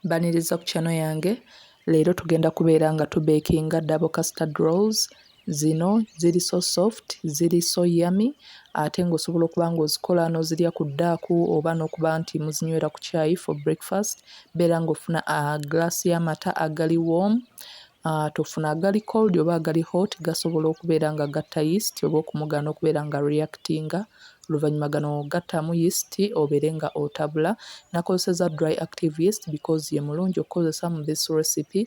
Mbaniriza ku channel yange leero tugenda kubeera nga tu bakinga double custard rolls zino ziri so soft ziri so yummy ate ng'osobola okuba ng'ozikola n'ozirya ku ddaaku oba n'okuba nti muzinywera ku caayi for breakfast beera ng'ofuna a ah, glass y'amata agali warm Ah, tufuna agali cold oba agali hot gasobola okubeera nga gatta yeast oba okumugaana okubeera nga reactinga oluvannyuma gano gattamu yeast obeere nga otabula nakozeseza dry active yeast because ye mulungi okukozesa mu this recipe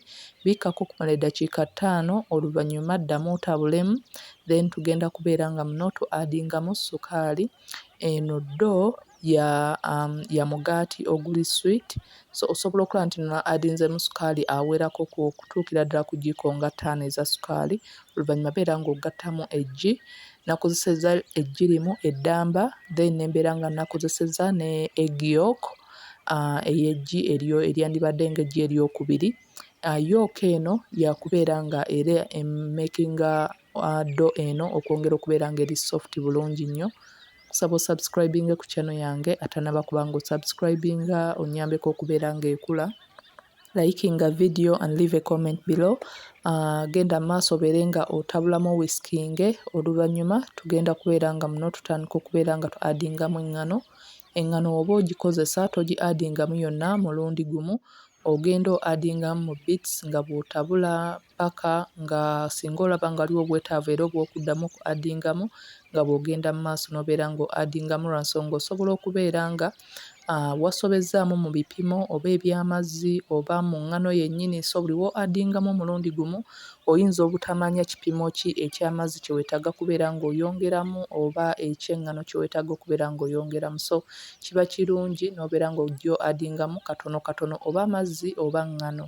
bikkako okumala eddakiika ttaano oluvannyuma ddamu otabulemu then tugenda kubeera nga muno tu adingamu sukaali eno do ya um, ya mugaati oguli sweet so osobola okulaba nti no adinzemu sukaali awerako okutuukira ddala ku jiko nga ttaano eza sukaali oluvannyuma beera ng'ogattamu eggi nakozeseza eggi limu eddamba then nembeera nga nakozeseza ne egiok uh, eyeggi eryo eryandibadde nga eggi eryokubiri uh, yooka eno yakubeera nga era emakinga uh, do eno okwongera okubeera nga eri soft bulungi nnyo kusaba osubscribinge ku kyano yange atanaba kubanga osubscribinga onyambeko okubeera nga ekula liking a video and leave a comment below uh, genda maaso obeere nga otabulamu wiskinge oluvannyuma tugenda kubeera nga muno tutandika okubeera nga tu adingamu eŋŋano eŋŋano oba ogikozesa togi adingamu yonna mulundi gumu ogenda o adingamu mu bits nga bw'otabula paka nga singa olaba nga waliwo obwetaavu era obw'okuddamu oku addingamu nga bw'ogenda mu maaso n'obeera nga addingamu lwa nsonga osobola okubeera nga ah, wasobezzaamu mu bipimo oba eby'amazzi oba mu ngano yennyini so buli wo addingamu omulundi gumu oyinza obutamanya kipimo ki eky'amazzi kye weetaaga kubeera ng'oyongeramu oba eky'eŋŋano kye weetaaga okubeera ng'oyongeramu so kiba kirungi n'obeera ng'ojjo addingamu katono katono oba amazzi oba ŋŋano.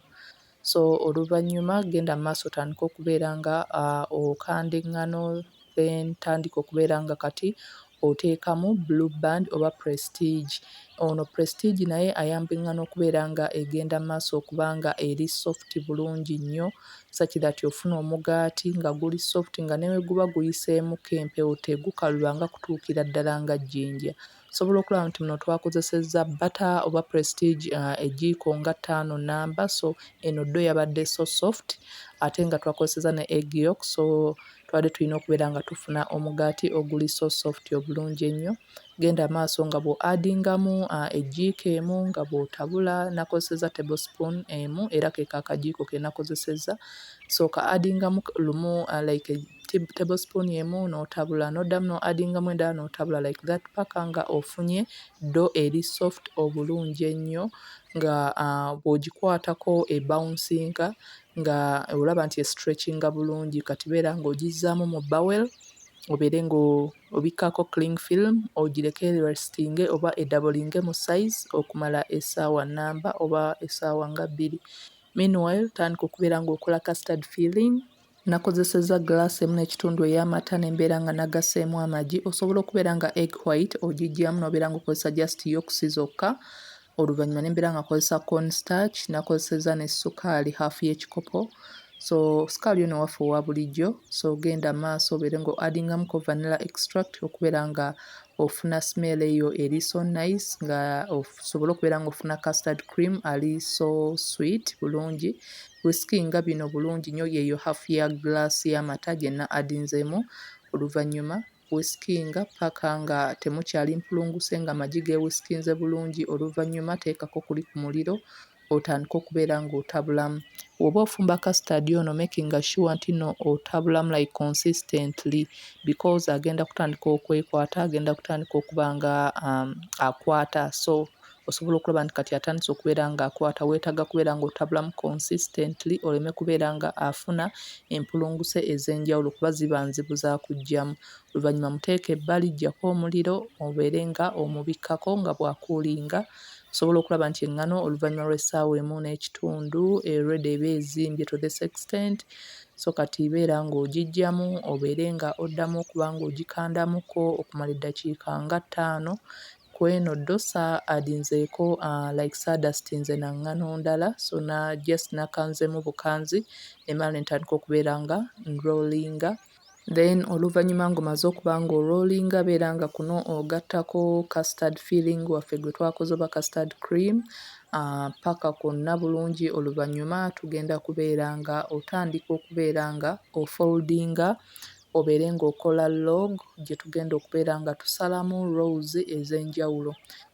So oluvannyuma genda mu maaso otandike okubeera nga uh, okanda eŋŋano then tandika okubeera nga kati oteekamu blue band oba prestige ono prestige naye ayamba eŋŋano okubeera nga egenda maaso okuba nga eri soft bulungi nnyo such that ofuna omugaati nga guli soft nga neweguba guyiseemuko empewo tegukaluba nga kutuukira ddala nga jjinja Osobola okulaba nti muno twakozesezza bbata oba prestige ejjiiko nga ttaano nnamba so eno ddo yabadde so soft ate nga twakozesezza ne egg yolk so twali tulina okubeera nga tufuna omugaati oguli so soft obulungi ennyo. Genda maaso nga bw'oaddingamu ejjiiko emu nga bw'otabula, nakozesezza table spoon emu era keeko akagiiko ke nakozesezza so okaaddingamu lumu like. table spoon emu notabula nodamu no addingamu endala notabula like that paka nga ofunye ddo eri soft obulungi ennyo nga bwogikwatako e bawunsinka nga olaba nti esitrekinga bulungi kati beera nga ogizzaamu mu bowel obeere nga obikkako cling film ogireke erestinge oba edabolinge mu size okumala esaawa namba oba esaawa nga bbiri meanwhile tandika okubeera nga okola custard feeling Nakozesezza gglaasi emu n'ekitundu ey'amata ne mbeera nga nagasseemu amagi. Osobola okubeera nga egg white ogiggyamu n'obeera ng'okozesa just yolks zokka. Oluvannyuma ne mbeera nga nkozesa corn starch, nakozesezza ne ssukaali half y'ekikopo. So ssukaali ono waffe owa bulijjo. So genda mu maaso obeere ng'o-addingamuko vanilla extract okubeera nga ofuna smell eyo eri so nice nga osobola okubeera nga ofuna custard cream ali so sweet bulungi wisikinga bino bulungi nyo yeyo half ya glass y'amata gyenna adinzeemu oluvannyuma wisikinga paka nga temukyali mpulunguse nga amagi gewisikinze bulungi oluvannyuma teekako kuli ku muliro otandike okubeera nga otabulamu woba ofumba custard ono making sure nti no otabulamu like consistently because agenda kutandika okwekwata agenda kutandika okuba nga um, akwata so osobola okulaba nti kati atandise okubeera nga akwata weetaga kubeera nga otabulamu consistently oleme kubeera nga afuna empulunguse ez'enjawulo kuba ziba nzibu za kujjamu oluvannyuma muteeka ebbali jjako omuliro obeere nga omubikkako nga bwakuulinga osobola okulaba nti eŋŋano oluvannyuma lw'essaawa emu n'ekitundu ereda eba ezimbye to this extent so kati ibeera ng'ogijjamu obeere nga oddamu okuba ng'ogikandamuko okumala eddakiika nga ttaano ku eno ddosa adinzeeko uh, like sadust nze naŋŋano ndala so na just nakanzemu bukanzi nemala nentandika okubeera nga nrolinga Then oluvannyuma ng'omaze okuba ng'oroolinga beera nga kuno ogattako custard filling waffe gwe twakoze oba custard cream ah, paka kwonna bulungi oluvannyuma tugenda kubeera nga otandika okubeera nga ofoldinga obeere ng'okola log gye tugenda okubeera nga tusalamu rose ez'enjawulo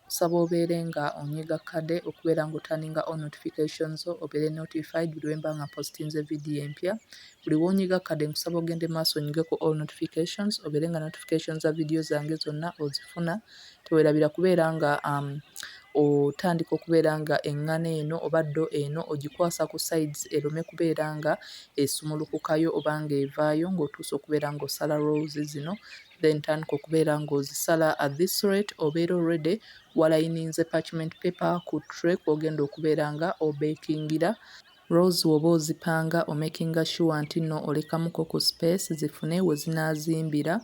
Nsaba obeere nga onyiga kade okubeera nga otaninga on notification zo obeere notified buli wemba nga mpostinze video empya buli wonyiga kade nkusaba ogende maaso onyige ku all notifications obeere nga notification za video zange zonna ozifuna tewerabira kubeera nga um, otandika okubeera nga eŋŋana eno oba ddo eno ogikwasa ku sides erome kubeera nga esumulukukayo oba nga evaayo ng'otuusa okubeera ng'osala rolls zino then tandika okubeera ng'ozisala at this rate obeera already walayininze parchment paper ku tray kw'ogenda okubeera nga obeekingira rolls w'oba ozipanga omakinga sure nti nno olekamuko ku space zifune we zinaazimbira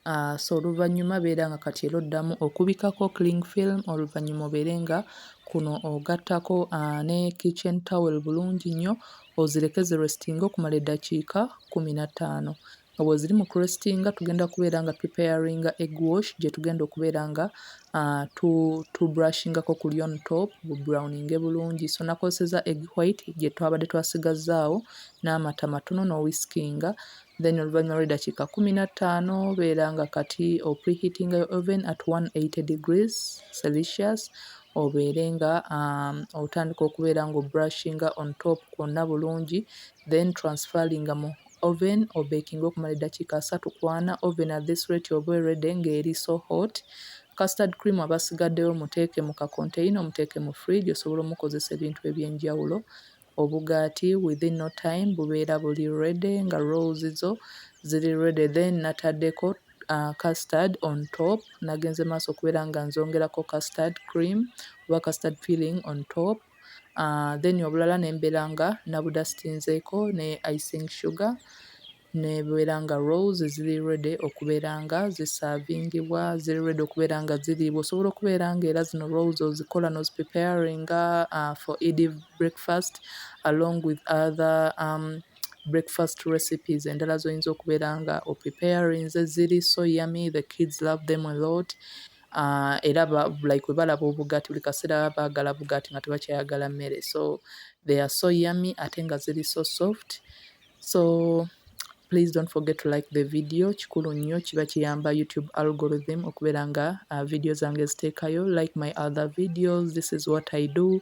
Uh, so oluvannyuma beera nga kati era oddamu okubikako cling film oluvannyuma obeere nga kuno ogattako uh, ne kitchen towel bulungi nnyo ozireke zirestinga okumala eddakiika kumi na ttaano nga bwoziri mu crestinga tugenda kubeera nga preparinga egg wash gyetugenda okubeera nga uh, tu, tu brushingako kuli on top browninge bulungi so nakozeseza egg white gyetwabadde twasigazaawo n'amata matono n'owiskinga then oluvannyuma lw'eddakiika kumi na ttaano beera nga kati opreheatinga yo oven at 180 degrees celsius obeere nga um, otandika okubeera nga obrushinga on top kwonna bulungi then transferinga mu oven obekinge okumala edakiika asatu ku ana, oven at this rate oba erede nga eri so hot, custard cream aba asigadewo muteeke mu ka container omuteeke mu fridge osobola omukozesa ebintu ebyenjawulo, obugaati within no time bubeera buli ready nga rolls zo ziri ready then natadeko custard on top nagenze maaso okubeera nga nzongerako custard cream oba custard filling on top. then obulala ne mbeera nga nabudasitinzeeko ne icing sugar ne bubeera nga rolls ziri ready okubeera nga zisaavingibwa, ziri ready okubeera nga ziriibwa. Osobola okubeera nga era zino rolls ozikola n'ozipripeyaringa for Eid breakfast along with other breakfast recipes endala z'oyinza okubeera nga opripeyarinze. Ziri so yummy, the kids love them a lot. uh, era ba, like webalaba obugati buli kaseera bagala bugati nga tebakyayagala mmere so they are so yummy ate nga ziri so soft so please don't forget to like the video kikulu nnyo kiba kiyamba youtube algorithm okubeera nga uh, video zange ziteekayo like my other videos this is what i do